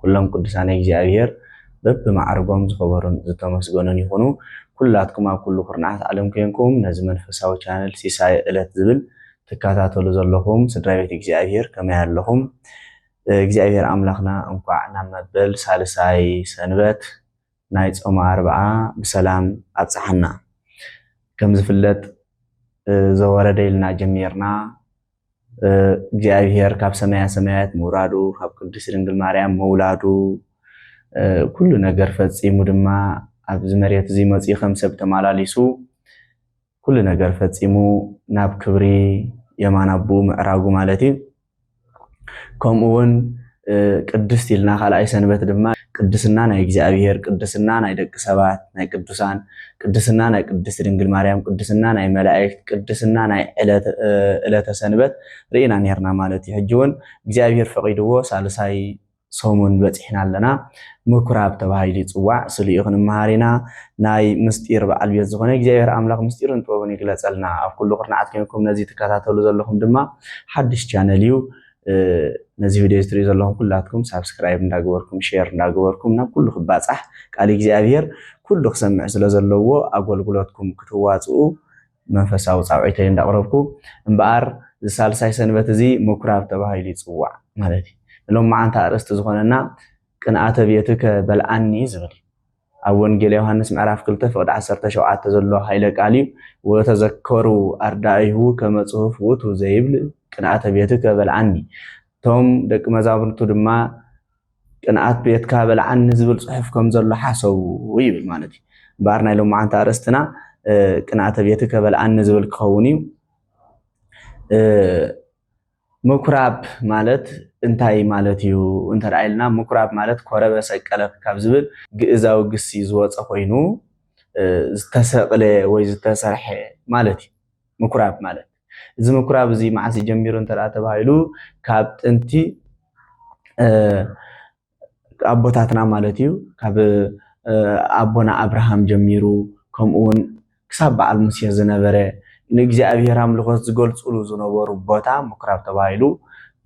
ኩሎም ቅዱሳነ እግዚኣብሔር በቢ ማዕርጎም ዝኸበሩን ዝተመስገኑን ይኹኑ። ኩላትኩም ኣብ ኩሉ ኩርናዓት ዓለም ኮይንኩም ነዚ መንፈሳዊ ቻነል ሲሳየ እለት ዝብል ትካታተሉ ዘለኹም ስድራቤት እግዚኣብሔር ከመይ ኣለኹም? እግዚኣብሔር ኣምላኽና እንኳዕ ናብ መበል ሳልሳይ ሰንበት ናይ ጾመ ኣርብዓ ብሰላም ኣብጽሓና። ከም ዝፍለጥ ዘወረደ ኢልና ጀሚርና እግዚኣብሔር ካብ ሰማያ ሰማያት ምውራዱ ካብ ቅድስት ድንግል ማርያም መውላዱ ኩሉ ነገር ፈጺሙ ድማ ኣብዚ መሬት እዚ መፅኡ ከም ሰብ ተመላሊሱ ኩሉ ነገር ፈጺሙ ናብ ክብሪ የማን ኣቦኡ ምዕራጉ ማለት እዩ ከምኡ እውን ቅድስት ኢልና ካልኣይ ሰንበት ድማ ቅድስና ናይ እግዚኣብሔር፣ ቅድስና ናይ ደቂ ሰባት፣ ናይ ቅዱሳን፣ ቅድስና ናይ ቅድስት ድንግል ማርያም፣ ቅድስና ናይ መላእክት፣ ቅድስና ናይ ዕለተ ሰንበት ርኢና ነርና ማለት እዩ። ሕጂ እውን እግዚኣብሔር ፈቒድዎ ሳልሳይ ሰሙን በጺሕና ኣለና። ምኩራብ ተባሂሉ ይጽዋዕ። ስልኡ ክንመሃር ኢና። ናይ ምስጢር በዓል ቤት ዝኾነ እግዚኣብሔር ኣምላኽ ምስጢርን ጥበብን ይግለጸልና። ኣብ ኩሉ ኩርናዓት ኮይንኩም ነዚ ትከታተሉ ዘለኹም ድማ ሓድሽ ቻነል እዩ። ነዚ ቪድዮ ዝትሪኡ ዘለኹም ኩላትኩም ሳብስክራይብ እንዳገበርኩም ሼር እንዳገበርኩም ናብ ኩሉ ክባፃሕ ቃል እግዚኣብሔር ኩሉ ክሰምዕ ስለ ዘለዎ ኣገልግሎትኩም ክትዋፅኡ መንፈሳዊ ፃውዒተይ እንዳቕረብኩ እምበኣር እዚ ሳልሳይ ሰንበት እዚ ምኩራብ ተባሂሉ ይፅዋዕ ማለት እዩ ንሎም መዓንቲ ኣርእስቲ ዝኾነና ቅንኣተ ቤትከ በልዓኒ ዝብል እዩ ኣብ ወንጌል ዮሃንስ ምዕራፍ ክልተ ፍቅዲ ዓሰርተ ሸውዓተ ዘሎ ኃይለ ቃል እዩ። ወተዘከሩ ኣርዳኢሁ ከመ ጽሑፍ ውእቱ ዘይብል ቅንኣተ ቤትከ በልዓኒ። እቶም ደቂ መዛሙርቱ ድማ ቅንኣት ቤትካ በልዓኒ ዝብል ጽሑፍ ከም ዘሎ ሓሰቡ ይብል ማለት እዩ። እምበኣር ናይ ሎማዓንቲ ኣርእስትና ቅንኣተ ቤትከ በልዓኒ ዝብል ክኸውን እዩ። ምኩራብ ማለት እንታይ ማለት እዩ እንተ ኢልና ምኩራብ ማለት ኮረበ ሰቀለ ካብ ዝብል ግእዛዊ ግሲ ዝወፀ ኮይኑ ዝተሰቕለ ወይ ዝተሰርሐ ማለት እዩ ምኩራብ ማለት እዚ ምኩራብ እዚ መዓስ ጀሚሩ እንተ ተባሂሉ ካብ ጥንቲ ኣቦታትና ማለት እዩ ካብ ኣቦና ኣብርሃም ጀሚሩ ከምኡ እውን ክሳብ በዓል ሙሴ ዝነበረ ንእግዚኣብሔር ኣምልኾት ዝገልፅሉ ዝነበሩ ቦታ ምኩራብ ተባሂሉ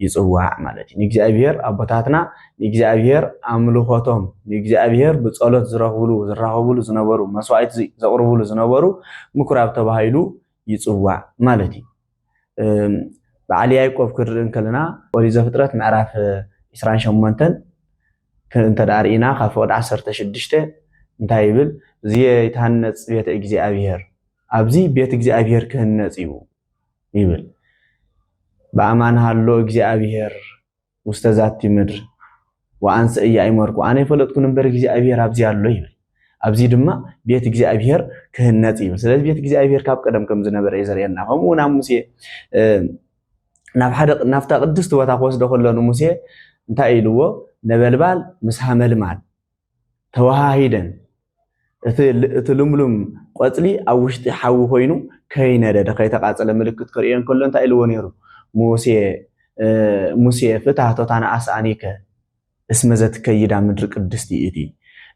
ይፅዋዕ ማለት እዩ። ንእግዚኣብሔር ኣቦታትና ንእግዚኣብሔር ኣምልኾቶም ንእግዚኣብሔር ብፀሎት ዝረኽብሉ ዝራኸብሉ ዝነበሩ መስዋዕት ዘቕርብሉ ዝነበሩ ምኩራብ ተባሂሉ ይፅዋዕ ማለት እዩ። በዓል ያዕቆብ ክንርኢ እንከለና ኦሪት ዘፍጥረት ምዕራፍ 28 እንተ ርኢና ካብ ፍቕዲ 16 እንታይ ይብል? እዚ ይትሃነፅ ቤተ እግዚኣብሔር ኣብዚ ቤት እግዚኣብሔር ክህነፅ እዩ ይብል። በኣማን ሃሎ እግዚኣብሔር ውስተ ዛቲ ምድር ወአንሰ ኢያእመርኩ፣ ኣነ ኣይፈለጥኩን እምበር እግዚኣብሔር ኣብዚ ኣሎ ይብል። ኣብዚ ድማ ቤት እግዚኣብሔር ክህነፅ እዩ። ስለዚ ቤት እግዚኣብሔር ካብ ቀደም ከም ዝነበረ እዩ ዘርእየና። ከምኡ እውን ኣብ ሙሴ ናብ ሓደ ናብታ ቅድስቲ ቦታ ክወስዶ ከሎ ንሙሴ እንታይ ኢልዎ? ነበልባል ምስ ሃመልማል ተወሃሂደን እቲ እቲ ልምሉም ቆጽሊ ኣብ ውሽጢ ሓዊ ኮይኑ ከይነደደ ከይተቃጸለ ምልክት ከርእዮ እንከሎ እንታይ ኢልዎ ነይሩ ሙሴ ሙሴ ፍታህ ቶታን ኣስኣኒከ እስመ ዘትከይዳ ምድሪ ቅድስቲ እቲ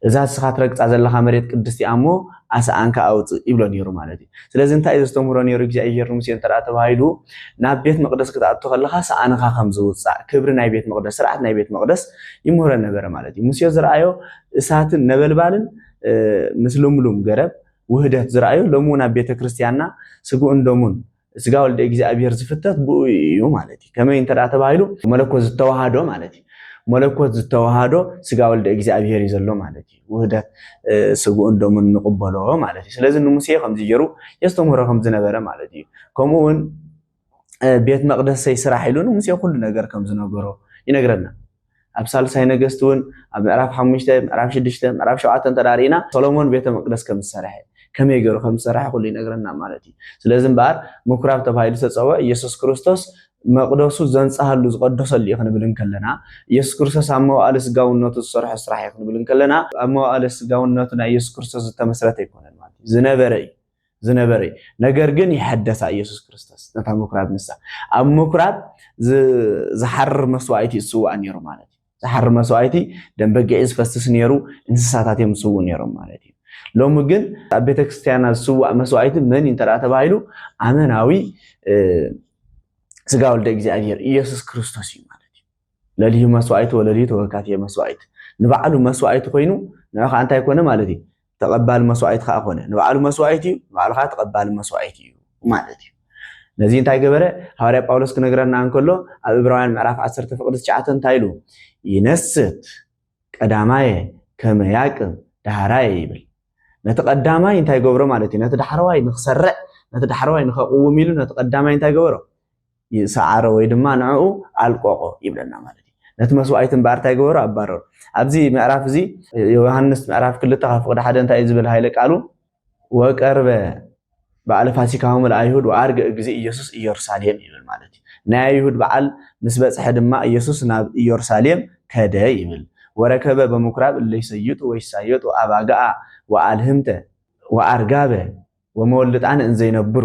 እዛ እስኻ ትረግጻ ዘለኻ መሬት ቅድስቲ እያ እሞ ኣስኣንካ ኣውጽእ ይብሎ ነይሩ ማለት እዩ ስለዚ እንታይ እዩ ዘስተምህሮ ነይሩ እግዚኣብሄር ንሙሴ እንተ ተባሂሉ ናብ ቤት መቕደስ ክትኣቱ ከለኻ ሰኣንኻ ከም ዝውፃእ ክብሪ ናይ ቤት መቕደስ ስርዓት ናይ ቤት መቕደስ ይምህሮ ነበረ ማለት እዩ ሙሴ ዝረኣዮ እሳትን ነበልባልን ምስ ልምሉም ገረብ ውህደት ዝረኣዩ ሎሚ እውን ኣብ ቤተ ክርስቲያንና ስግኡን ደሙን ስጋ ወልደ እግዚኣብሄር ዝፍተት ብኡ እዩ ማለት እዩ ከመይ እንተ ተባሂሉ መለኮት ዝተዋሃዶ ማለት እዩ መለኮት ዝተዋሃዶ ስጋ ወልደ እግዚኣብሄር እዩ ዘሎ ማለት እዩ ውህደት ስግኡን ደሙን ንቕበሎ ማለት እዩ። ስለዚ ንሙሴ ከምዚ ገይሩ የስተምህሮ ከም ዝነበረ ማለት እዩ። ከምኡ እውን ቤት መቕደሰይ ስራሕ ኢሉ ንሙሴ ኩሉ ነገር ከም ዝነገሮ ይነግረና። ኣብ ሳልሳይ ነገስቲ እውን ኣብ ምዕራፍ ሓሙሽተ ምዕራፍ ሽዱሽተ ምዕራፍ ሸውዓተ እንተዳሪእና ሰሎሞን ቤተ መቅደስ ከም ዝሰርሐ ከመይ ገይሩ ከም ዝሰርሐ ኩሉ ይነግረና ማለት እዩ። ስለዚ እምበኣር ምኩራብ ተባሂሉ ዝተፀውዐ ኢየሱስ ክርስቶስ መቕደሱ ዘንጽሃሉ ዝቐደሰሉ እዩ ክንብል እንከለና፣ ኢየሱስ ክርስቶስ ኣብ መዋእለ ስጋውነቱ ዝሰርሖ ስራሕ እዩ ክንብል እንከለና፣ ኣብ መዋእለ ስጋውነቱ ናይ ኢየሱስ ክርስቶስ ዝተመስረተ ኣይኮነን ማለት እዩ። ዝነበረ እዩ። ዝነበረ እዩ። ነገር ግን ይሐደሳ ኢየሱስ ክርስቶስ ነታ ምኵራብ ንሳ ኣብ ምኵራብ ዝሓርር መስዋእቲ እዩ ዝስዋእ ነይሩ ማለት እዩ። ዝሓሪ መስዋእቲ ደም በጊዕ ዝፈስስ ነይሩ፣ እንስሳታት እዮም ዝስውኡ ነይሮም ማለት እዩ። ሎሚ ግን ኣብ ቤተክርስቲያና ዝስዋእ መስዋእቲ መን እዩ እንተደኣ ተባሂሉ ኣመናዊ ስጋ ወልደ እግዚኣብሔር ኢየሱስ ክርስቶስ እዩ ማለት እዩ። ለልዩ መስዋእቲ ወለልዩ ተወካትየ መስዋእቲ ንባዕሉ መስዋእቲ ኮይኑ ንዑ ከዓ እንታይ ኮነ ማለት እዩ ተቐባሊ መስዋኢት ኸኣ ኮነ። ንባዕሉ መስዋኢት እዩ፣ ንባዕሉ ኸኣ ተቐባሊ መስዋኢት እዩ ማለት እዩ። ነዚ እንታይ ገበረ? ሃዋርያ ጳውሎስ ክነግረና እንከሎ ኣብ እብራውያን ምዕራፍ ዓሰርተ ፍቕዲ ትሽዓተ እንታይ ኢሉ? ይነስት ቀዳማየ ከመ ያቅም ዳህራየ ይብል። ነቲ ቀዳማይ እንታይ ገብሮ ማለት እዩ? ነቲ ዳሕረዋይ ንክሰርዕ፣ ነቲ ዳሕረዋይ ንኸቕውም ኢሉ ነቲ ቀዳማይ እንታይ ገበሮ? ሰዓሮ ወይ ድማ ንዕኡ ኣልቆቆ ይብለና ማለት እዩ ነቲ መስዋእቲ እምበኣር እንታይ ገበሩ ኣባረሩ ኣብዚ ምዕራፍ እዚ ዮሃንስ ምዕራፍ ክልተ ካብ ፍቅዲ ሓደ እንታይ እዩ ዝብል ሃይለ ቃሉ ወቀርበ በዓለ ፋሲካሆም ለኣይሁድ ወኣርገ ግዜ ኢየሱስ ኢየሩሳሌም ይብል ማለት እዩ ናይ ኣይሁድ በዓል ምስ በፅሐ ድማ ኢየሱስ ናብ ኢየሩሳሌም ከደ ይብል ወረከበ በምኩራብ እለይሰይጡ ወይሳየጡ ኣባጋኣ ወኣልህምተ ወኣርጋበ ወመወልጣን እንዘይነብሩ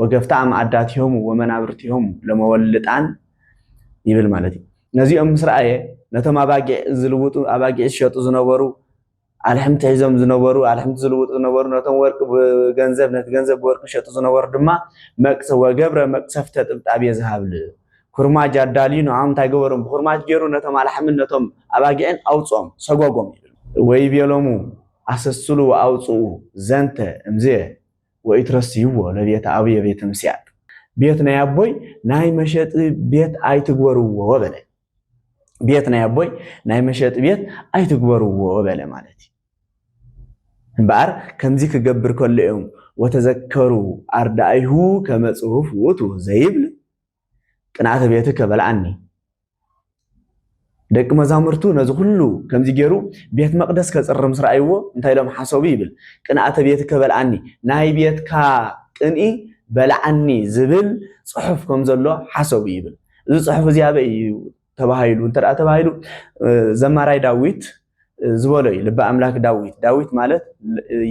ወገፍታ ኣምኣዳቲሆሙ ወመናብርቲሆሙ ለመወልልጣን ይብል ማለት እዩ። ነዚኦም ምስ ረኣየ ነቶም ኣባጊዕ ዝልውጡ ኣባጊዕ ዝሸጡ ዝነበሩ ኣልሕምቲ ሒዞም ዝነበሩ ኣልሕምቲ ዝልውጡ ዝነበሩ ነቶም ወርቂ ብገንዘብ ነቲ ገንዘብ ብወርቂ ዝሸጡ ዝነበሩ ድማ መቅሰ ወገብረ መቅሰፍተ ጥብጣብየ ዝሃብል ኩርማጅ ኣዳልዩ ንዖም እንታይ ገበሮም ብኩርማጅ ገይሩ ነቶም ኣልሓምን ነቶም ኣባጊዕን ኣውፅኦም ሰጎጎም ይብል ወይቤሎሙ ኣሰስሉ ወኣውፅኡ ዘንተ እምዝየ ወኢትረስይዎ ለቤተ ኣቡየ ቤተ ምስያጥ፣ ቤት ናይ ኣቦይ ናይ መሸጢ ቤት ኣይትግበርዎ በለ። ቤት ናይ ኣቦይ ናይ መሸጢ ቤት ኣይትግበርዎ በለ ማለት እዩ። እምበኣር ከምዚ ክገብር ከሎ እዮም ወተዘከሩ ኣርዳኢሁ ከመ ጽሑፍ ውእቱ ዘይብል ቅንኣተ ቤትከ በልዓኒ። ደቂ መዛሙርቱ ነዚ ኩሉ ከምዚ ገይሩ ቤት መቅደስ ከጽሪ ምስ ረኣይዎ እንታይ ኢሎም ሓሰቡ ይብል ቅንኣተ ቤትከ በልዓኒ ናይ ቤትካ ቅንኢ በልዓኒ ዝብል ጽሑፍ ከም ዘሎ ሓሰቡ ይብል እዚ ጽሑፍ እዚ ኣበይ እዩ ተባሂሉ እንተ ተባሂሉ ዘማራይ ዳዊት ዝበሎ እዩ ልቢ ኣምላክ ዳዊት ዳዊት ማለት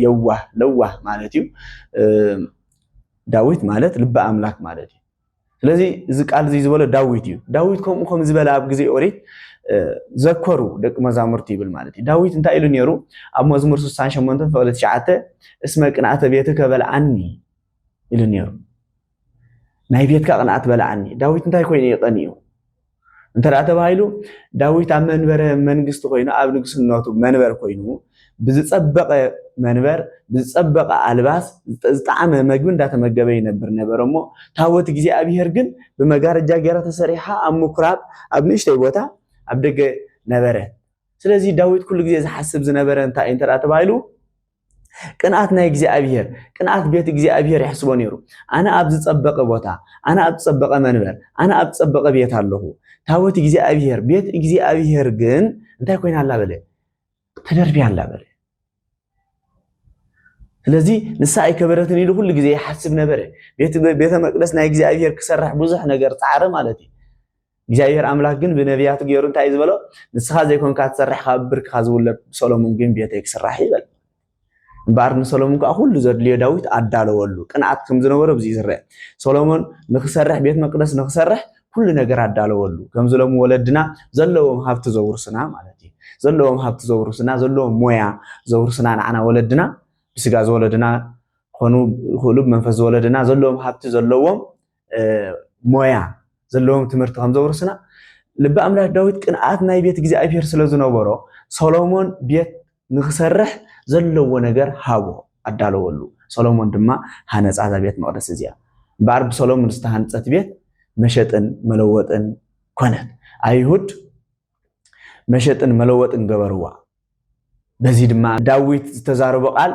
የዋህ ለዋህ ማለት እዩ ዳዊት ማለት ልቢ ኣምላክ ማለት እዩ ስለዚ እዚ ቃል እዚ ዝበሎ ዳዊት እዩ ዳዊት ከምኡ ከም ዝበለ ኣብ ግዜ ኦሪት ዘከሩ ደቂ መዛሙርቲ ይብል ማለት እዩ ዳዊት እንታይ ኢሉ ነይሩ ኣብ መዝሙር 68 ፍቕሊ 9 እስመ ቅንኣተ ቤትከ በልዓኒ ኢሉ ነይሩ ናይ ቤትካ ቅንኣት በልዓኒ ዳዊት እንታይ ኮይኑ እዩ ቀኒኡ እንተደኣ ተባሂሉ ዳዊት ኣብ መንበረ መንግስቲ ኮይኑ ኣብ ንግስነቱ መንበር ኮይኑ ብዝጸበቐ መንበር ብዝጸበቐ ኣልባስ ዝጣዓመ መግቢ እንዳተመገበ ይነብር ነበረ እሞ ታቦት እግዚኣብሄር ግን ብመጋረጃ ገይራ ተሰሪሓ ኣብ ምኩራብ ኣብ ንእሽተይ ቦታ ኣብ ደገ ነበረ ስለዚ ዳዊት ኩሉ ግዜ ዝሓስብ ዝነበረ እንታይ እንተ ተባሂሉ ቅንኣት ናይ እግዚኣብሄር፣ ቅንኣት ቤት እግዚኣብሄር የሕስቦ ነይሩ። ኣነ ኣብ ዝጸበቐ ቦታ፣ ኣነ ኣብ ዝጸበቐ መንበር፣ ኣነ ኣብ ዝጸበቐ ቤት ኣለኹ። ታቦት እግዚኣብሄር፣ ቤት እግዚኣብሄር ግን እንታይ ኮይና ኣላ በለ? ተደርብያ ኣላ በለ። ስለዚ ንሳ ኣይከበረትን ኢሉ ኩሉ ግዜ ይሓስብ ነበረ። ቤተ መቅደስ ናይ እግዚኣብሄር ክሰርሕ ብዙሕ ነገር ጻዕረ ማለት እዩ። እግዚኣብሄር ኣምላክ ግን ብነብያቱ ገይሩ እንታይ እዩ ዝበሎ ንስኻ ዘይኮንካ ትሰርሕ ካብ ብርክኻ ዝውለድ ብሰሎሙን ግን ቤተይ ክስራሕ እዩ በል እምበኣር ንሰሎሞን ከዓ ኩሉ ዘድልዮ ዳዊት ኣዳለወሉ ቅንኣት ከም ዝነበሮ ብዚ ዝረአ ሰሎሞን ንክሰርሕ ቤት መቅደስ ንክሰርሕ ኩሉ ነገር ኣዳለወሉ ከምዚ ሎሚ ወለድና ዘለዎም ሃብቲ ዘውርስና ማለት እዩ ዘለዎም ሃብቲ ዘውርስና ዘለዎም ሞያ ዘውርስና ንዓና ወለድና ብስጋ ዝወለድና ክኾኑ ይኽእሉ ብመንፈስ ዝወለድና ዘለዎም ሃብቲ ዘለዎም ሞያ ዘለዎም ትምህርቲ ከም ዘውርስና ልቢ ኣምላክ ዳዊት ቅንኣት ናይ ቤት እግዚኣብሔር ስለ ዝነበሮ ሰሎሞን ቤት ንክሰርሕ ዘለዎ ነገር ሃቦ ኣዳለወሉ ሰሎሞን ድማ ሃነፃ እዛ ቤት መቅደስ እዚኣ እምበኣር ብሰሎሞን ዝተሃንፀት ቤት መሸጥን መለወጥን ኮነት ኣይሁድ መሸጥን መለወጥን ገበርዋ በዚ ድማ ዳዊት ዝተዛረቦ ቃል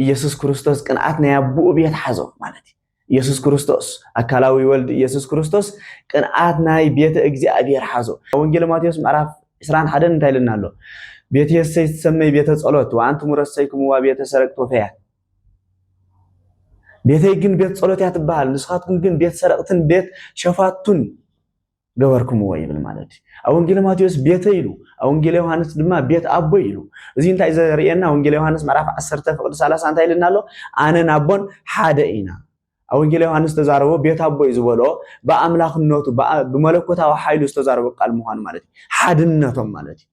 ኢየሱስ ክርስቶስ ቅንኣት ናይ ኣቦኡ ቤት ሓዞ ማለት እዩ ኢየሱስ ክርስቶስ ኣካላዊ ወልድ ኢየሱስ ክርስቶስ ቅንኣት ናይ ቤተ እግዚኣብሔር ሓዞ ወንጌል ማቴዎስ ምዕራፍ ዕስራን ሓደን እንታይ ኢልና ኣሎ ቤት የሰይ ትሰመይ ቤተ ጸሎት ወኣንትሙ ረሰይክምዋ ቤተ ሰረቅት ወፈያት ቤተይ ግን ቤት ጸሎት እያ ትበሃል ንስኻትኩም ግን ቤት ሰረቅትን ቤት ሸፋቱን ገበርኩምዎ ይብል ማለት እዩ። ኣብ ወንጌለ ማቴዎስ ቤተይ ኢሉ፣ ኣብ ወንጌለ ዮሃንስ ድማ ቤት ኣቦይ ኢሉ። እዚ እንታይ ዘርእየና? ወንጌለ ዮሃንስ ምዕራፍ 10 ፍቕዲ 30 እንታይ ኢልና ኣሎ? ኣነን ኣቦን ሓደ ኢና። ኣብ ወንጌለ ዮሃንስ ዝተዛረቦ ቤት ኣቦይ ዝበሎ ብኣምላኽነቱ ብመለኮታዊ ሓይሉ ዝተዛረቦ ቃል ምዃኑ ማለት እዩ። ሓድነቶም ማለት እዩ።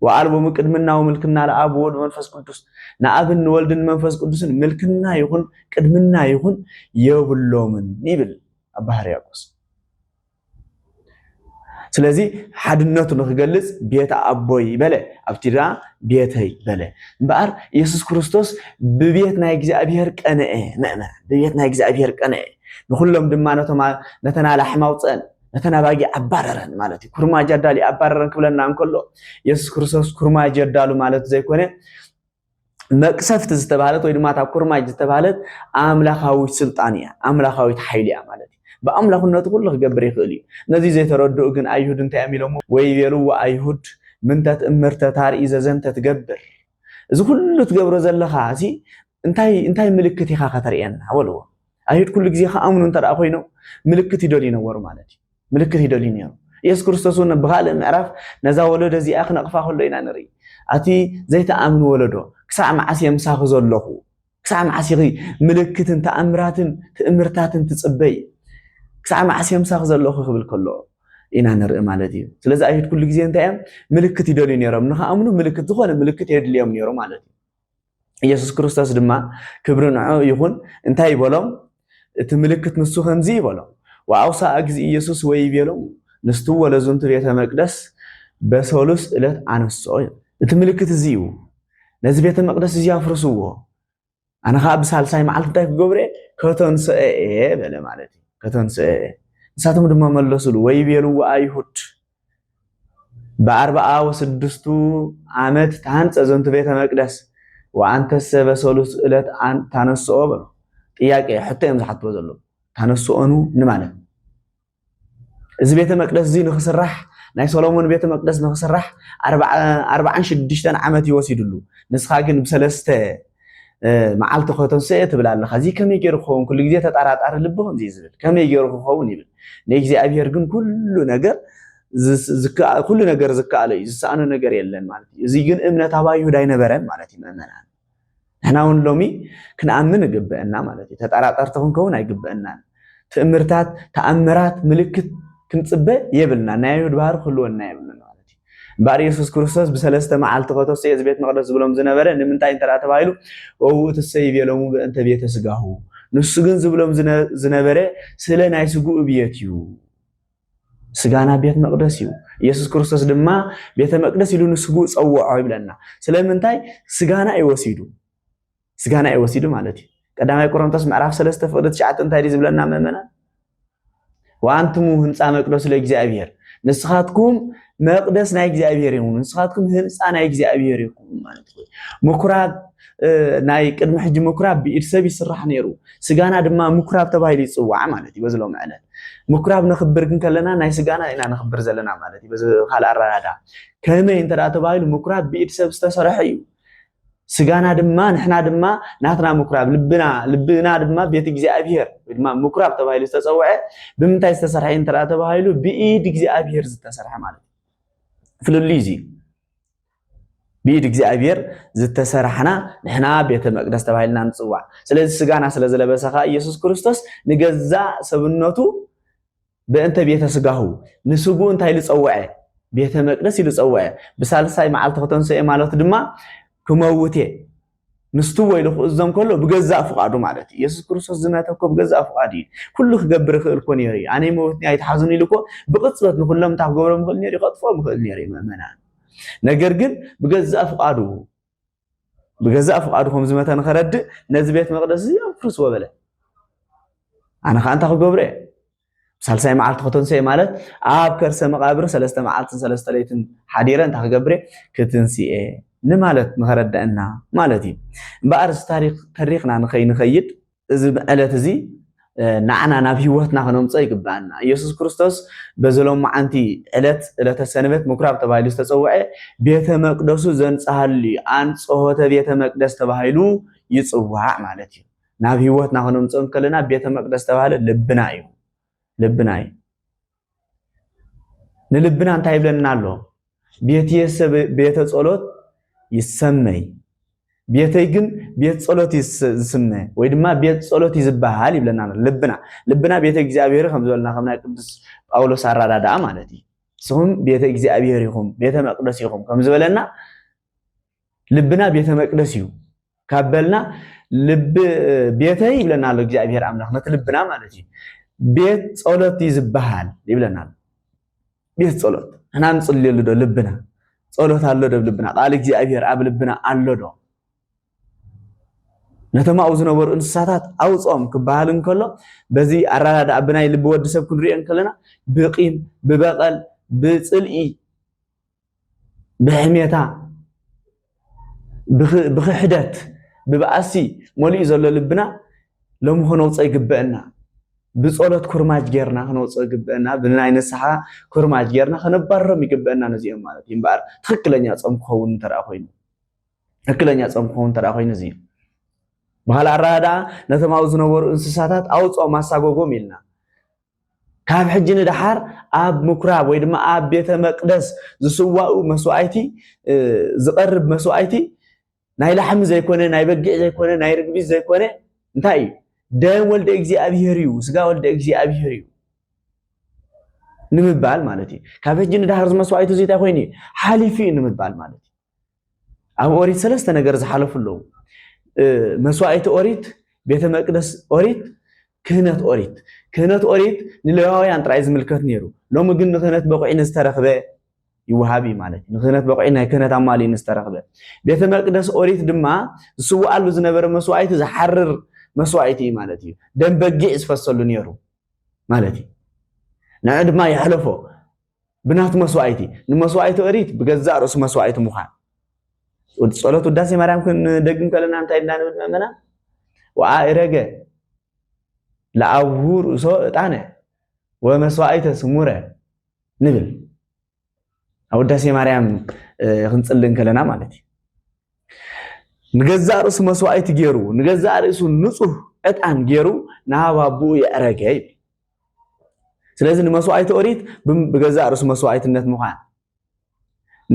ወኣልቦ ምቅድምና ወምልክና ለኣብ ወወልድ መንፈስ ቅዱስ ንኣብን ንወልድን መንፈስ ቅዱስን ምልክና ይኹን ቅድምና ይኹን የብሎምን ይብል ኣባ ሕርያቆስ። ስለዚ ሓድነቱ ንክገልጽ ቤት ኣቦይ በለ ኣብቲ ድኣ ቤተይ በለ እምበኣር ኢየሱስ ክርስቶስ ብቤት ናይ እግዚኣብሔር ቀንአ መእመ ብቤት ናይ እግዚኣብሔር ቀንአ ንኩሎም ድማ ነቶም ነተን ኣላሕም ኣውፅአን ነተን ኣባጊዕ ኣባረረን ማለት እዩ። ኩርማጅ ኣዳልዩ ኣባረረን ክብለና እንከሎ የሱስ ክርስቶስ ኩርማጅ የዳሉ ማለት ዘይኮነ መቅሰፍቲ ዝተባህለት ወይ ድማ እታ ኩርማጅ ዝተባህለት ኣምላኻዊት ስልጣን እያ ኣምላኻዊት ሓይሊ እያ ማለት እዩ ብኣምላኽነቱ ኩሉ ክገብር ይኽእል እዩ ነዚ ዘይተረድኡ ግን ኣይሁድ እንታይ እዮም ኢሎሞ ወይ ቤልዎ ኣይሁድ ምንተ ትእምርተ ታርኢ ዘዘንተ ትገብር እዚ ኩሉ ትገብሮ ዘለኻ እዚ እንታይ እንታይ ምልክት ኢኻ ከተርእየና በልዎ። ኣይሁድ ኩሉ ግዜ ክኣምኑ እንተ ኮይኖም ምልክት ይደልዩ ነበሩ ማለት እዩ። ምልክት ይደልዩ ነይሩ። የሱስ ክርስቶስ እውን ብካልእ ምዕራፍ ነዛ ወለዶ እዚኣ ክነቕፋ ከሎ ኢና ንርኢ ኣቲ ዘይተኣምን ወለዶ ክሳዕ መዓስ እየ ምሳኺ ዘለኹ ክሳዕ መዓስ ኢኺ ምልክትን ተኣምራትን ትእምርታትን ትፅበይ ክሳዕ መዓስ እየ ምሳኺ ዘለኹ ክብል ከሎ ኢና ንርኢ ማለት እዩ ስለዚ ኣይሁድ ኩሉ ግዜ እንታይ እዮም ምልክት ይደልዩ ነይሮም ንክኣምኑ ምልክት ዝኾነ ምልክት የድልዮም ነይሩ ማለት እዩ ኢየሱስ ክርስቶስ ድማ ክብሪ ንዑ ይኹን እንታይ ይበሎም እቲ ምልክት ንሱ ከምዚ ይበሎም ወአውስአ እግዚእ ኢየሱስ ወይ ይቤሎም ንስትወ ለዝንቱ ቤተ መቅደስ በሰሉስ ዕለት ኣነስኦ እዩ እቲ ምልክት እዚ እዩ ነዚ ቤተ መቅደስ እዚ ኣፍርስዎ ኣነ ከዓ ብሳልሳይ መዓልቲ እንታይ ክገብረ ከተንስአ እየ በለ ማለት እዩ ከተንስአ እየ ንሳቶም ድማ መለሱሉ ወይ ቤልዎ ኣይሁድ በአርብዓ ወስድስቱ ዓመት ተሃንጸ ዘንቱ ቤተ መቅደስ ወአንተሰ በሰሉስ እለት ታነስኦ በሎ ጥያቄ ሕቶ እዮም ዝሓትዎ ዘለዉ ታነስኦኑ ንማለት እዚ ቤተ መቅደስ እዚ ንክስራሕ ናይ ሰሎሞን ቤተ መቅደስ ንክስራሕ ኣርባዓን ሽዱሽተን ዓመት ይወሲድሉ ንስኻ ግን ብሰለስተ መዓልቲ ከተንስኤ ትብል ኣለኻ እዚ ከመይ ገይሩ ክኸውን ኩሉ ግዜ ተጠራጣሪ ልቢ ከምዚ ዝብል ከመይ ገይሩ ክኸውን ይብል ንእግዚኣብሔር ግን ኩሉ ነገር ኩሉ ነገር ዝከኣሎ እዩ ዝሰኣኖ ነገር የለን ማለት እዩ እዚ ግን እምነት ኣብ ኣይሁድ ኣይነበረን ማለት እዩ ምእመናን ንሕና እውን ሎሚ ክንኣምን ይግበአና ማለት እዩ ተጠራጠርቲ ክንከውን ኣይግበአናን ትእምርታት ተኣምራት ምልክት ክንፅበ የብልና ናይ ኣይሁድ ባህሪ ክህልወና የብልና ማለት እዩ እምበኣር የሱስ ክርስቶስ ብሰለስተ መዓልቲ ኸተስኦ እዚ ቤት መቕደስ ዝብሎም ዝነበረ ንምንታይ እንተ ደኣ ተባሂሉ እውኡ ትሰይ ቤሎሙ በእንተ ቤተ ስጋሁ ንሱ ግን ዝብሎም ዝነበረ ስለ ናይ ስግኡ ብየት እዩ ስጋና ቤት መቅደስ እዩ ኢየሱስ ክርስቶስ ድማ ቤተ መቅደስ ኢሉ ንስግኡ ጸውዖ ይብለና ስለምንታይ ስጋና እዩ ወሲዱ ስጋና እዩ ወሲዱ ማለት እዩ ቀዳማይ ቆሮንቶስ ምዕራፍ ሰለስተ ፍቅዲ ትሽዓተ እንታይ ድዩ ዝብለና ምእመናን ወኣንትሙ ህንፃ መቅደሱ ለእግዚኣብሔር ንስኻትኩም መቅደስ ናይ እግዚኣብሔር እዩ ንስኻትኩም ህንፃ ናይ እግዚኣብሔር ይኹም ማለት እዩ ምኩራብ ናይ ቅድሚ ሕጂ ምኩራብ ብኢድ ሰብ ይስራሕ ነይሩ ስጋና ድማ ምኩራብ ተባሂሉ ይፅዋዕ ማለት እዩ በዝሎም ዕለት ምኩራብ ነኽብር ግን ከለና ናይ ስጋና ኢና ነኽብር ዘለና ማለት እዩ በዚ ካልእ ኣረዳዳ ከመይ እንተ ተባሂሉ ምኩራብ ብኢድ ሰብ ዝተሰርሐ እዩ ስጋና ድማ ንሕና ድማ ናትና ምኩራብ ልብና ልብና ድማ ቤት እግዚኣብሄር ወይ ድማ ምኩራብ ተባሂሉ ዝተፀውዐ ብምንታይ ዝተሰርሐ እዩ እንተደኣ ተባሂሉ ብኢድ እግዚኣብሄር ዝተሰርሐ ማለት እዩ ፍልልይ እዚ ብኢድ እግዚኣብሄር ዝተሰርሐና ንሕና ቤተ መቅደስ ተባሂልና ንፅዋዕ ስለዚ ስጋና ስለ ዝለበሰ ከዓ ኢየሱስ ክርስቶስ ንገዛእ ሰብነቱ በእንተ ቤተ ሥጋሁ ንሥግኡ እንታይ ኢሉ ጸውዐ? ቤተ መቅደስ ኢሉ ጸውዐ። ብሳልሳይ መዓልቲ ከተንሥኤ ማለቱ ድማ ክመውት እየ ምስትዎ ኢሉ ክእዞም ከሎ ብገዛእ ፍቓዱ ማለት እዩ። ኢየሱስ ክርስቶስ ዝመተ እኮ ብገዛእ ፍቓዱ እዩ። ኩሉ ክገብር ይኽእል እኮ ነይሩ እዩ። ኣነ ይመውትኒ ኣይትሓዝኑ ኢሉ እኮ ብቕጽበት ንኹሎም እንታይ ክገብሮም ይኽእል ነይሩ እዩ? ከጥፍኦም ይኽእል ነይሩ እዩ ምእመናን። ነገር ግን ብገዛእ ፍቓዱ ብገዛእ ፍቓዱ ከም ዝመተ ንኸረድእ ነዚ ቤት መቕደስ እዚ ኣፍርስዎ በለ ኣነ ከዓ እንታይ ክገብሮ እየ ሳልሳይ መዓልቲ ከተንስኦ እየ ማለት ኣብ ከርሰ መቓብር ሰለስተ መዓልትን ሰለስተ ለይትን ሓዲረ እንታይ ክገብር እየ ክትንስኤ ንማለት ንኸረዳእና ማለት እዩ እምበኣር እዚ ታሪክ ተሪኽና ንኸይንኸይድ እዚ ዕለት እዚ ንዓና ናብ ህይወትና ክነምፀ ይግብኣና ኢየሱስ ክርስቶስ በዚ ሎማዓንቲ ዕለት ዕለተ ሰንበት ምኩራብ ተባሂሉ ዝተፀውዐ ቤተ መቅደሱ ዘንፀሃሉ እዩ ኣንፅሆተ ቤተ መቅደስ ተባሂሉ ይፅዋዕ ማለት እዩ ናብ ህይወትና ክነምፅኦ እንከለና ቤተ መቅደስ ተባህለ ልብና እዩ ልብና እዩ ንልብና እንታይ ይብለና ኣሎ? ቤትየሰ ቤተ ጸሎት ይሰመይ ቤተይ ግን ቤት ጸሎት ዝስመ ወይ ድማ ቤት ጸሎት እዩ ዝበሃል ይብለና ኣሎ ልብና ልብና ቤተ እግዚኣብሔር ከም ዝበለና ከም ናይ ቅዱስ ጳውሎስ ኣረዳድኣ ማለት እዩ ንስኹም ቤተ እግዚኣብሔር ኢኹም ቤተ መቅደስ ኢኹም ከም ዝበለና ልብና ቤተ መቅደስ እዩ ካብ በልና ልቢ ቤተይ ይብለና ኣሎ እግዚኣብሔር ኣምላኽ ነቲ ልብና ማለት እዩ ቤት ጸሎት እዩ ዝበሃል ይብለና ኣሎ ቤት ጸሎት እና ንጽልየሉ ዶ ልብና ጸሎት ኣሎ ዶ ልብና ቃል እግዚኣብሔር ኣብ ልብና ኣሎ ዶ ነቶም ኣብኡ ዝነበሩ እንስሳታት ኣውፅኦም ክበሃል እንከሎ በዚ ኣረዳድኣ ብናይ ልቢ ወዲ ሰብ ክንሪኦ እንከለና ብቂም ብበቐል ብፅልኢ ብሕሜታ፣ ብክሕደት፣ ብባእሲ መሊኡ ዘሎ ልብና ሎሚ ክነውፅኦ ይግበእና። ብፀሎት ኩርማጅ ጌርና ክነውፅኦ ይግበእና። ብናይ ንስሓ ኩርማጅ ጌርና ከነባርሮም ይግበእና ነዚኦም ማለት እዩ እምበኣር ትኽክለኛ ፆም ክኸውን እንተ ኮይኑ ትኽክለኛ ፆም ክኸውን እንተ ኮይኑ እዚ እዩ። ብካልእ ኣረዳድኣ ነቶም ኣብኡ ዝነበሩ እንስሳታት ኣውፅኦም ኣሳጎጎም ኢልና ካብ ሕጂ ንደሓር ኣብ ምኩራብ ወይ ድማ ኣብ ቤተ መቅደስ ዝስዋኡ መስዋእቲ ዝቐርብ መስዋእቲ ናይ ላሕሚ ዘይኮነ ናይ በጊዕ ዘይኮነ ናይ ርግቢት ዘይኮነ እንታይ እዩ ደም ወልደ እግዚኣብሔር እዩ ስጋ ወልደ እግዚኣብሔር እዩ ንምባል ማለት እዩ ካብ ሕጂ ንደሓር ዝመስዋእቲ እዚ እንታይ ኮይኑ እዩ ሓሊፉ እዩ ንምባል ማለት እዩ ኣብ ኦሪት ሰለስተ ነገር ዝሓለፉ ኣለዉ። መስዋእቲ ኦሪት፣ ቤተ መቅደስ ኦሪት፣ ክህነት ኦሪት። ክህነት ኦሪት ንሌዋውያን ጥራይ ዝምልከት ነይሩ። ሎሚ ግን ንክህነት በቑዒ ንዝተረኽበ ይወሃብ እዩ ማለት እዩ። ንክህነት በቑዒ ናይ ክህነት ኣማሊ ንዝተረኽበ። ቤተ መቅደስ ኦሪት ድማ ዝስውኣሉ ዝነበረ መስዋእቲ ዝሓርር መስዋእቲ እዩ ማለት እዩ። ደም በጊዕ ዝፈሰሉ ነይሩ ማለት እዩ። ንዑ ድማ የሕለፎ ብናቱ መስዋእቲ ንመስዋእቲ ኦሪት ብገዛእ ርእሱ መስዋእቲ ምዃን ጸሎት ውዳሴ ማርያም ክንደግም ከለና እንታይ እና ንብል መመና ወኣእረገ ለኣብሁ ርእሶ እጣነ ወመስዋእተ ስሙረ ንብል ኣብ ውዳሴ ማርያም ክንጽሊ እንከለና ማለት እዩ ንገዛእ ርእሱ መስዋእቲ ገይሩ ንገዛእ ርእሱ ንጹህ ዕጣን ገይሩ ናብ ኣቦኡ የዕረገ ይብል ስለዚ ንመስዋእቲ ኦሪት ብገዛእ ርእሱ መስዋእትነት ምዃን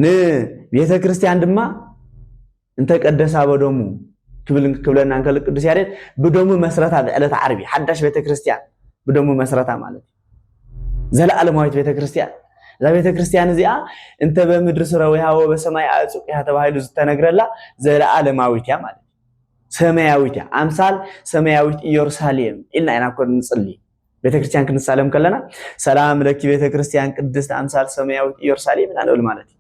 ንቤተ ክርስቲያን ድማ እንተ ቀደሳ በደሙ ክብል ክብለና እንከሎ ቅዱስ ያሬድ ብደሙ መስረታ ብዕለት ዓርቢ ሓዳሽ ቤተ ክርስቲያን ብደሙ መስረታ ማለት እዩ ዘለኣለማዊት ቤተ ክርስቲያን እዛ ቤተ ክርስቲያን እዚኣ እንተ በምድሪ ስረ ወይሃወ በሰማይ ኣዕፁቅያ ተባሂሉ ዝተነግረላ ዘለኣለማዊት እያ ማለት እዩ ሰማያዊት እያ ኣምሳል ሰማያዊት ኢየሩሳሌም ኢልና ኢና እኮ ንጽሊ ቤተ ክርስቲያን ክንሳለም ከለና ሰላም ለኪ ቤተ ክርስቲያን ቅድስት ኣምሳል ሰማያዊት ኢየሩሳሌም ኢና ንብል ማለት እዩ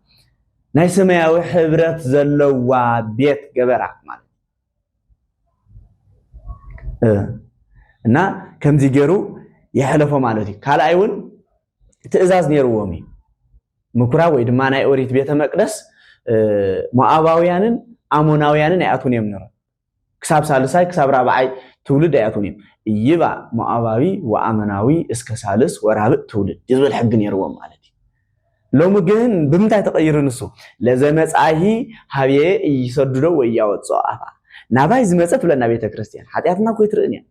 ናይ ሰማያዊ ሕብረት ዘለዋ ቤት ገበራ ማለት እና ከምዚ ገይሩ የሕለፎ ማለት እዩ ካልኣይ እውን ትእዛዝ ነይርዎም እዩ። ምኩራብ ወይ ድማ ናይ ኦሪት ቤተ መቅደስ ሞኣባውያንን ኣሞናውያንን ኣይኣትውን እዮም ነሮም ክሳብ ሳልሳይ ክሳብ ራብዓይ ትውልድ ኣይኣትውን እዮም እይባ ሞኣባዊ ወኣመናዊ እስከ ሳልስ ወራብእ ትውልድ ዝብል ሕጊ ነይርዎም ማለት እዩ ሎሚ ግን ብምንታይ ተቐይሩ ንሱ ለዘመፃሂ ሃብየ እይሰድዶ ወይ እያወፅኦ ኣፋ ናባይ ዝመፀ ትብለና ቤተ ክርስትያን ሓጢኣትና ኮይ ትርእን እያ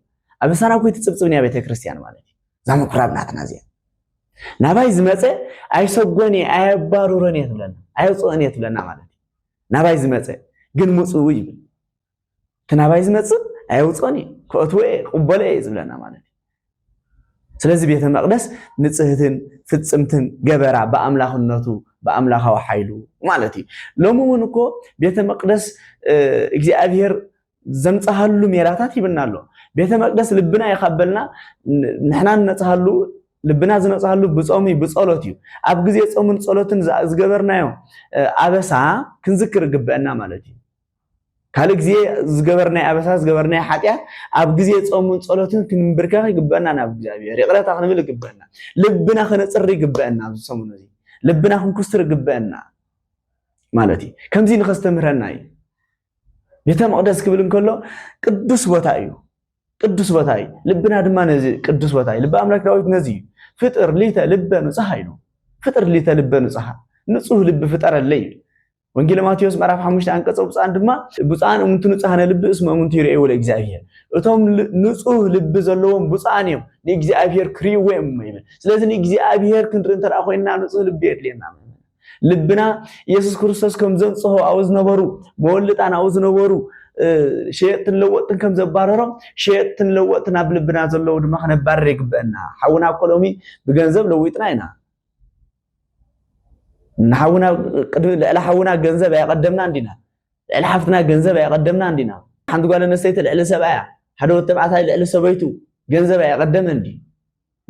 ኣብ ልሳና ኮይ ትፅብፅብን እያ ቤተ ክርስትያን ማለት እዩ እዛ ምኩራብ ናትና እዚኣ ናባይ ዝመፀ ኣይሰጎን እየ ኣየባርሮን እየ ትብለና ኣየውፅኦን እየ ትብለና ማለት እዩ ናባይ ዝመፀ ግን ምፅኡ ይብል እቲ ናባይ ዝመፅእ ኣየውፅኦን እየ ክእትወ እየ ቅበሎ እየ ዝብለና ማለት እዩ ስለዚ ቤተ መቅደስ ንፅህትን ፍፅምትን ገበራ ብኣምላኽነቱ ብኣምላኻዊ ሓይሉ ማለት እዩ ሎሚ እውን እኮ ቤተ መቅደስ እግዚኣብሄር ዘንጽሃሉ ሜላታት ይብና ኣሎ። ቤተ መቅደስ ልብና እዩ ካብ በልና ንሕና ንነጽሃሉ ልብና ዝነጽሃሉ ብጾም እዩ ብጸሎት እዩ። ኣብ ግዜ ጾምን ጸሎትን ዝገበርናዮ ኣበሳ ክንዝክር ግበአና ማለት እዩ። ካልእ ግዜ ዝገበርናይ ኣበሳ ዝገበርናይ ሓጢኣት ኣብ ግዜ ጾምን ጸሎትን ክንብርከኽ ይግበአና ናብ እግዚኣብሔር ይቕረታ ክንብል ይግበአና። ልብና ክነጽሪ ይግበአና ኣብዚ ሰሙን እዚ ልብና ክንኩስር ይግበአና ማለት እዩ። ከምዚ ንኸስተምህረና እዩ። ቤተ መቕደስ ክብል እንከሎ ቅዱስ ቦታ እዩ። ቅዱስ ቦታ እዩ። ልብና ድማ ነዚ ቅዱስ ቦታ እዩ። ልቢ ኣምላክ ዳዊት ነዚ እዩ ፍጥር ሊተ ልበ ንጹሃ ኢሉ ፍጥር ሊተ ልበ ንጹሃ ንጹህ ልቢ ፍጠረለይ እዩ። ወንጌል ማቴዎስ ምዕራፍ ሓሙሽተ ኣንቀጸ ብፁዓን ድማ ብፁዓን እምንቲ ንጹሃነ ልቢ እስመ እምንቲ ይርእይዎ ለእግዚኣብሔር እቶም ንጹህ ልቢ ዘለዎም ብፁዓን እዮም ንእግዚኣብሔር ክርእይዎ እዮም ይብል። ስለዚ ንእግዚኣብሔር ክንርኢ እንተ ኮይንና ንጹህ ልቢ የድልየና። ልብና ኢየሱስ ክርስቶስ ከም ዘንጽሆ ኣብኡ ዝነበሩ መወልጣን ኣብኡ ዝነበሩ ሸየጥትን ለወጥትን ከም ዘባረሮም ሸየጥትን ለወጥትን ኣብ ልብና ዘለዉ ድማ ክነባርር ይግበአና ሓውና እኮ ሎሚ ብገንዘብ ለዊጥና ኢና ንሓውና ቅድሚ ልዕሊ ሓውና ገንዘብ ኣየቐደምና እንዲና ልዕሊ ሓፍትና ገንዘብ ኣየቐደምና እንዲና ሓንቲ ጓል ኣነስተይቲ ልዕሊ ሰብኣያ ሓደ ወድ ተባዕታይ ልዕሊ ሰበይቱ ገንዘብ ኣየቐደመ እንዲ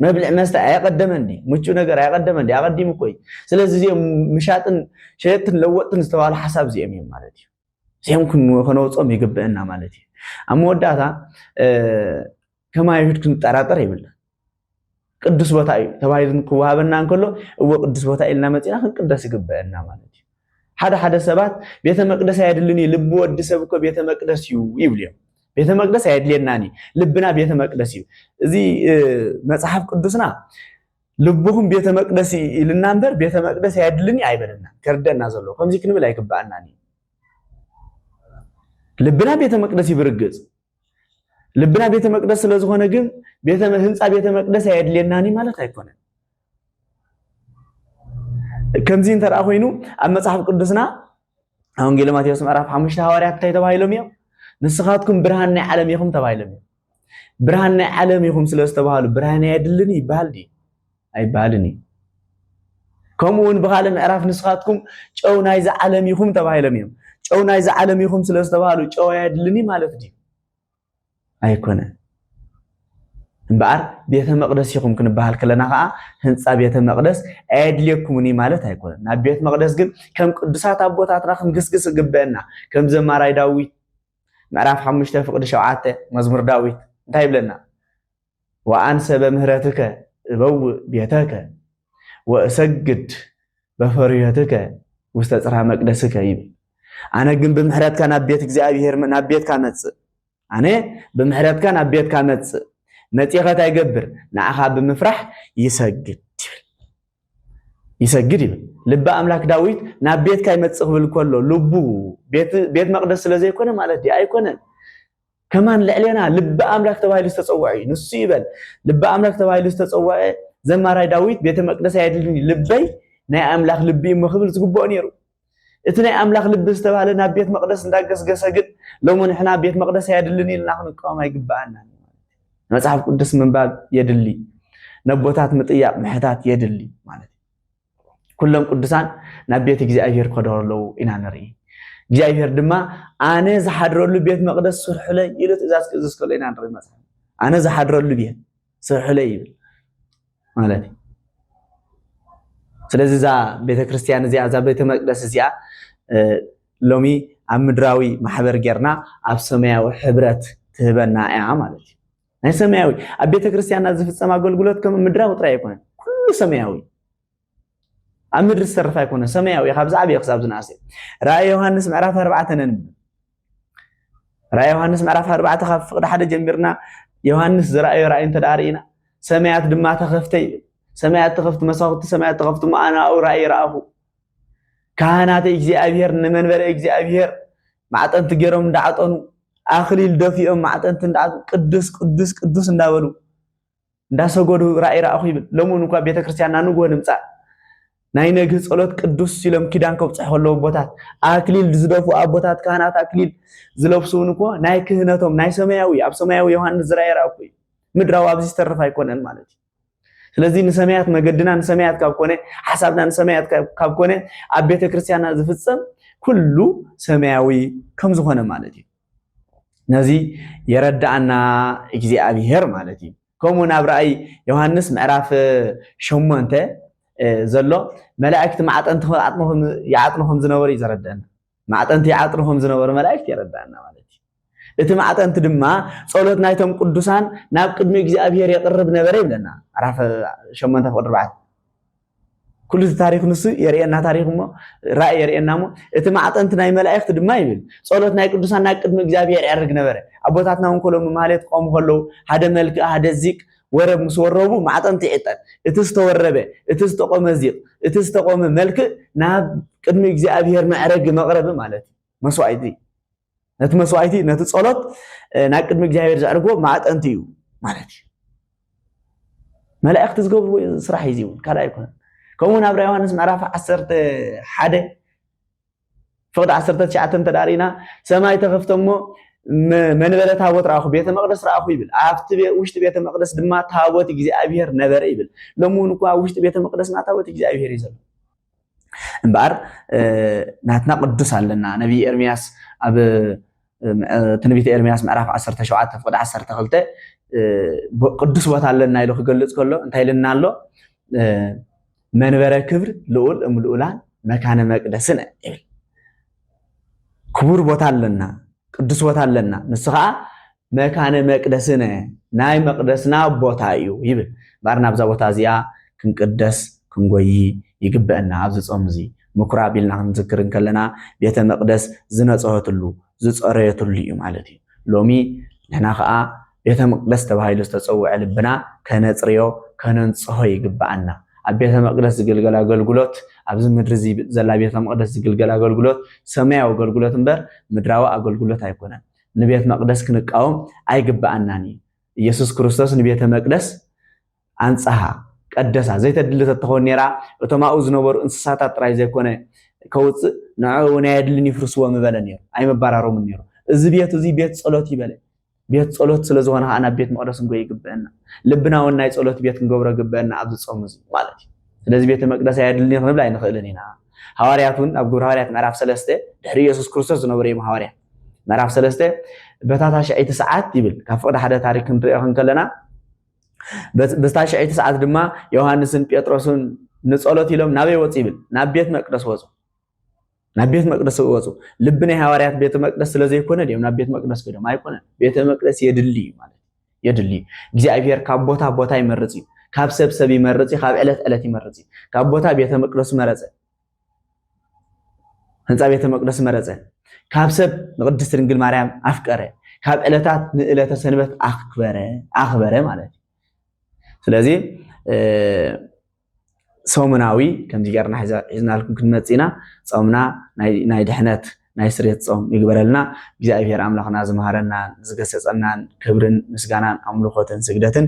መብልዕ መስተ ኣየቐደመን ድዩ? ምቹእ ነገር ኣየቐደመን ድዩ? ኣቐዲሙ እኮ እዩ። ስለዚ እዚኦም ምሻጥን ሸየጥትን ለወጥትን ዝተባህሉ ሓሳብ እዚኦም እዮም ማለት እዩ። እዚኦም ከነውፅኦም ይግብእና ማለት እዩ። ኣብ መወዳእታ ከም ኣይሁድ ክንጠራጠር ይብለን። ቅዱስ ቦታ እዩ ተባሂሉ ክወሃበና እንከሎ እዎ ቅዱስ ቦታ ኢልና መፂና ክንቅደስ ይግበአና ማለት እዩ። ሓደ ሓደ ሰባት ቤተ መቅደስ ኣየድልን እዩ ልቢ ወዲ ሰብ እኮ ቤተ መቅደስ እዩ ይብሉ እዮም ቤተ መቅደስ ኣየድልየናን እዩ ልብና ቤተ መቅደስ እዩ እዚ መጽሓፍ ቅዱስና ልብኹም ቤተ መቅደስ ኢልና እምበር ቤተ መቅደስ ኣየድልን እዩ ኣይበለና ከርደና ዘሎ ከምዚ ክንብል ኣይግባኣናን እዩ ልብና ቤተ መቅደስ እዩ ብርግጽ ልብና ቤተ መቅደስ ስለዝኾነ ግን ህንፃ ቤተ መቅደስ ኣየድልየናን ማለት ኣይኮነን ከምዚ እንተ ኮይኑ ኣብ መጽሓፍ ቅዱስና ኣብ ወንጌል ማቴዎስ ምዕራፍ ሓሙሽተ ሃዋርያት እንታይ ተባሂሎም እዮም ንስኻትኩም ብርሃን ናይ ዓለም ኢኹም ተባሂሎም እዮም ብርሃን ናይ ዓለም ኢኹም ስለ ዝተባሃሉ ብርሃን ኣየድልን ይበሃል ድዩ ኣይበሃልን እዩ ከምኡ እውን ብካልእ ምዕራፍ ንስኻትኩም ጨው ናይዚ ዓለም ኢኹም ተባሂሎም እዮም ጨው ናይዚ ዓለም ኢኹም ስለ ዝተባሃሉ ጨው ኣየድልን ማለት ድዩ ኣይኮነን። እምበኣር ቤተ መቕደስ ኢኹም ክንበሃል ከለና ከዓ ህንፃ ቤተ መቕደስ ኣየድልየኩምን እዩ ማለት ኣይኮነን። ናብ ቤት መቕደስ ግን ከም ቅዱሳት ኣቦታትና ክንግስግስ እግበአና። ከም ዘማራይ ዳዊት ምዕራፍ ሓሙሽተ ፍቅዲ ሸውዓተ መዝሙር ዳዊት እንታይ ይብለና? ወኣንሰ በምህረትከ እበውእ ቤተከ ወእሰግድ በፈርዮትከ ውስተ ጽርሃ መቅደስከ ይብል። ኣነ ግን ብምሕረትካ ናብ ቤት እግዚኣብሔር ናብ ቤትካ መጽእ ኣነ ብምሕረትካ ናብ ቤትካ መጽእ መጺኸ እንታይ ይገብር ንዓኻ ብምፍራሕ ይሰግድ ይብል ይሰግድ ይብል ልቢ ኣምላክ ዳዊት ናብ ቤትካ ይመጽእ ክብል ከሎ ልቡ ቤት መቅደስ ስለ ዘይኮነ ማለት ድዩ ኣይኮነን ከማን ልዕሌና ልቢ ኣምላክ ተባሂሉ ዝተጸውዐ እዩ ንሱ ይበል ልቢ ኣምላክ ተባሂሉ ዝተጸውዐ ዘማራይ ዳዊት ቤተ መቅደስ ኣየድልኒ ልበይ ናይ ኣምላክ ልቢ እሞ ክብል ዝግብኦ ነይሩ እቲ ናይ ኣምላክ ልቢ ዝተባህለ ናብ ቤት መቅደስ እንዳገስገሰ ግን ሎሚ ንሕና ቤት መቅደስ ኣየድልኒ ኢልና ክንቃወም ኣይግባኣና መጽሓፍ ቅዱስ ምንባብ የድሊ ነቦታት ምጥያቅ ምሕታት የድሊ ማለት ኩሎም ቅዱሳን ናብ ቤት እግዚኣብሔር ከደሩ ኣለዉ ኢና ንርኢ እግዚኣብሔር ድማ ኣነ ዝሓድረሉ ቤት መቅደስ ስርሑለይ ኢሉ ትእዛዝ ክእዝዝ ከሎ ኢና ንርኢ መጽሓፍ ኣነ ዝሓድረሉ ቤት ስርሑለይ ይብል ማለት እዩ ስለዚ እዛ ቤተክርስትያን እዚኣ እዛ ቤተ መቅደስ እዚኣ ሎሚ ኣብ ምድራዊ ማሕበር ጌርና ኣብ ሰማያዊ ሕብረት ትህበና እያ ማለት እዩ ናይ ሰማያዊ ኣብ ቤተ ክርስቲያንና ዝፍፀም ኣገልግሎት ከም ምድራዊ ጥራይ ኣይኮነን ኩሉ ሰማያዊ ኣብ ምድሪ ዝተረፈ ኣይኮነ ሰማያዊ ካብ ዝዓበየ ክሳብ ዝነኣሰ ራእይ ዮሃንስ ምዕራፍ ኣርባዕተ ነንብብ ራእይ ዮሃንስ ምዕራፍ ኣርባዕተ ካብ ፍቅዲ ሓደ ጀሚርና ዮሃንስ ዝረኣዮ ራእይ እንተ ርኢና ሰማያት ድማ ተኸፍተ ይብል ሰማያት ተኸፍቲ መሳኹቲ ሰማያት ተኸፍቲ መኣናኡ ራእይ ረኣኹ ካህናተ እግዚኣብሄር ንመንበረ እግዚኣብሄር ማዕጠንቲ ገይሮም እንዳዓጠኑ ኣኽሊል ደፊኦም ማዕጠንቲ እንዳዓጠኑ ቅዱስ ቅዱስ ቅዱስ እንዳበሉ እንዳሰገዱ ራእይ ረኣኹ ይብል። ሎምውን እኳ ቤተ ክርስቲያንና ንግሆ ንምፃእ ናይ ነግህ ጸሎት ቅዱስ ኢሎም ኪዳን ከብፅሑ ከለዉ ኣቦታት ኣክሊል ዝደፉ ኣቦታት ካህናት ኣክሊል ዝለብሱ እውን እኮ ናይ ክህነቶም ናይ ሰማያዊ ኣብ ሰማያዊ ዮሃንስ ዝረኣየ ረኣኩ እዩ ምድራዊ ኣብዚ ዝተርፍ ኣይኮነን ማለት እዩ ስለዚ ንሰማያት መገድና ንሰማያት ካብ ኮነ ሓሳብና ንሰማያት ካብ ኮነ ኣብ ቤተ ክርስቲያንና ዝፍፀም ኩሉ ሰማያዊ ከም ዝኾነ ማለት እዩ ነዚ የረዳኣና እግዚኣብሄር ማለት እዩ ከምኡ ናብ ራእይ ዮሃንስ ምዕራፍ ሸሞንተ ዘሎ መላእክቲ ማዕጠንቲ ይዓጥኑ ከም ዝነበሩ እዩ ዘረድአና ማዕጠንቲ ይዓጥኑ ከም ዝነበሩ መላእክት የረድኣና ማለት እዩ። እቲ ማዕጠንቲ ድማ ጸሎት ናይቶም ቅዱሳን ናብ ቅድሚ እግዚኣብሔር የቕርብ ነበረ ይብለና ምዕራፍ ሸሞንተ ፍቕዲ ኣርባዕተ ኩሉ እቲ ታሪክ ንሱ የርእየና ታሪክ እሞ ራእይ የርእየና እሞ እቲ ማዕጠንቲ ናይ መላእክት ድማ ይብል ጸሎት ናይ ቅዱሳን ናብ ቅድሚ እግዚኣብሔር ያርግ ነበረ ኣቦታትና እውን ከሎ ማህሌት ቆሙ ከለዉ ሓደ መልክእ ሓደ ዚቅ ወረብ ምስ ወረቡ ማዕጠንቲ ዒጠን፣ እቲ ዝተወረበ፣ እቲ ዝተቆመ ዚቕ፣ እቲ ዝተቆመ መልክእ ናብ ቅድሚ እግዚኣብሔር መዕረጊ መቕረቢ ማለት እዩ። መስዋእቲ ነቲ መስዋእቲ ነቲ ጸሎት ናብ ቅድሚ እግዚኣብሔር ዘዕርግዎ ማዕጠንቲ እዩ ማለት እዩ። መላእክቲ ዝገብርዎ ስራሕ እዩ እውን ካልእ ኣይኮነን። ከምኡውን ኣብ ራ ዮሃንስ ምዕራፍ ዓሰርተ ሓደ ፍቕዲ ዓሰርተ ትሽዓተ እንተ ርኢና ሰማይ ተኸፍተ እሞ መንበረ ታቦት ረኣኹ፣ ቤተ መቕደስ ረኣኹ ይብል። ኣብቲ ውሽጢ ቤተ መቕደስ ድማ ታቦት እግዚኣብሄር ነበረ ይብል። ሎሚ እውን እኳ ኣብ ውሽጢ ቤተ መቕደስና ታቦት እግዚኣብሄር እዩ ዘሎ። እምበኣር ናትና ቅዱስ ኣለና። ነቢይ ኤርምያስ ኣብ ትንቢት ኤርምያስ ምዕራፍ 17 ፍቅዲ 12 ቅዱስ ቦታ ኣለና ኢሉ ክገልፅ ከሎ እንታይ ኢልና ኣሎ መንበረ ክብር ልኡል እም ልኡላን መካነ መቅደስን ይብል ክቡር ቦታ ኣለና ቅዱስ ቦታ ኣለና ንሱ ከዓ መካነ መቅደስነ ናይ መቅደስና ቦታ እዩ ይብል ባር ናብዛ ቦታ እዚኣ ክንቅደስ ክንጎይ ይግበአና ኣብዚ ፆም እዚ ምኵራብ ኢልና ክንዝክር እንከለና ቤተ መቕደስ ዝነጽሀትሉ፣ ዝጸረየትሉ እዩ ማለት እዩ። ሎሚ ንሕና ከኣ ቤተ መቕደስ ተባሂሉ ዝተጸውዐ ልብና ከነጽርዮ፣ ከነንጽሆ ይግብኣና። ኣብ ቤተ መቕደስ ዝግልገል ኣገልግሎት፣ ኣብዚ ምድሪ እዚ ዘላ ቤተ መቕደስ ዝግልገል ኣገልግሎት ሰማያዊ ኣገልግሎት እምበር ምድራዊ ኣገልግሎት ኣይኮነን። ንቤት መቕደስ ክንቃወም ኣይግብኣናን እዩ። ኢየሱስ ክርስቶስ ንቤተ መቅደስ ኣንጽሃ፣ ቀደሳ፣ ዘይተድሊ ተትኸውን ነይራ፣ እቶም ኣብኡ ዝነበሩ እንስሳታት ጥራይ ዘይኮነ ከውጽእ፣ ንዕኡ'ውን ኣየድልን እዩ ፍርስዎ ምበለ ነይሩ፣ ኣይምባራሮምን ነይሩ። እዚ ቤት እዚ ቤት ጸሎት እዩ በለ። ቤት ጸሎት ስለ ዝኾነ ከኣ ናብ ቤት መቕደስ ክንጎይ ይግብእና። ልብና እውን ናይ ጸሎት ቤት ክንገብሮ ግብእና ኣብዚ ጾም እዚ ማለት እዩ። ስለዚ ቤተ መቅደስ ኣየድልን እዩ ክንብል ኣይንኽእልን ኢና። ሃዋርያት እውን ኣብ ግብረ ሃዋርያት ምዕራፍ ሰለስተ ድሕሪ ኢየሱስ ክርስቶስ ዝነበሩ እዮም ሃዋርያት ምዕራፍ ሰለስተ በታ ታሽዐይቲ ሰዓት ይብል ካብ ፍቅዲ ሓደ ታሪክ ክንሪኦ ክንከለና በታ ሽዐይቲ ሰዓት ድማ ዮሃንስን ጴጥሮስን ንጸሎት ኢሎም ናበይ ወጹ ይብል ናብ ቤት መቅደስ ወጹ ናብ ቤት መቅደስ ወጹ ልቢ ናይ ሃዋርያት ቤተ መቅደስ ስለ ዘይኮነ ድዮም ናብ ቤት መቅደስ ከዶም ኣይኮነ ቤተ መቅደስ የድሊ እዩ ማለት የድሊ እዩ እግዚኣብሔር ካብ ቦታ ቦታ ይመርጽ እዩ ካብ ሰብ ሰብ ይመርጽ እዩ ካብ ዕለት ዕለት ይመርጽ እዩ ካብ ቦታ ቤተ መቅደሱ መረጸ ህንፃ ቤተ መቅደስ መረፀ። ካብ ሰብ ንቅድስት ድንግል ማርያም ኣፍቀረ። ካብ ዕለታት ንዕለተ ሰንበት ኣክበረ ኣክበረ ማለት እዩ። ስለዚ ሰሙናዊ ከምዚ ገርና ሒዝናልኩም ክንመፅእ ኢና። ፆምና ናይ ድሕነት ናይ ስሬት ጾም ይግበረልና እግዚኣብሔር ኣምላኽና ዝመሃረናን ዝገሰጸናን ክብርን ምስጋናን ኣምልኾትን ስግደትን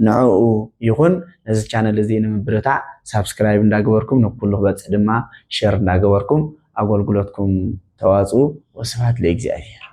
ንዕኡ ይኹን ነዚ ቻነል እዚ ንምብርታዕ ሳብስክራይብ እንዳገበርኩም ንኩሉ ክበጽሕ ድማ ሸር እንዳገበርኩም ኣገልግሎትኩም ተዋጽኡ ወስብሐት ለእግዚኣብሔር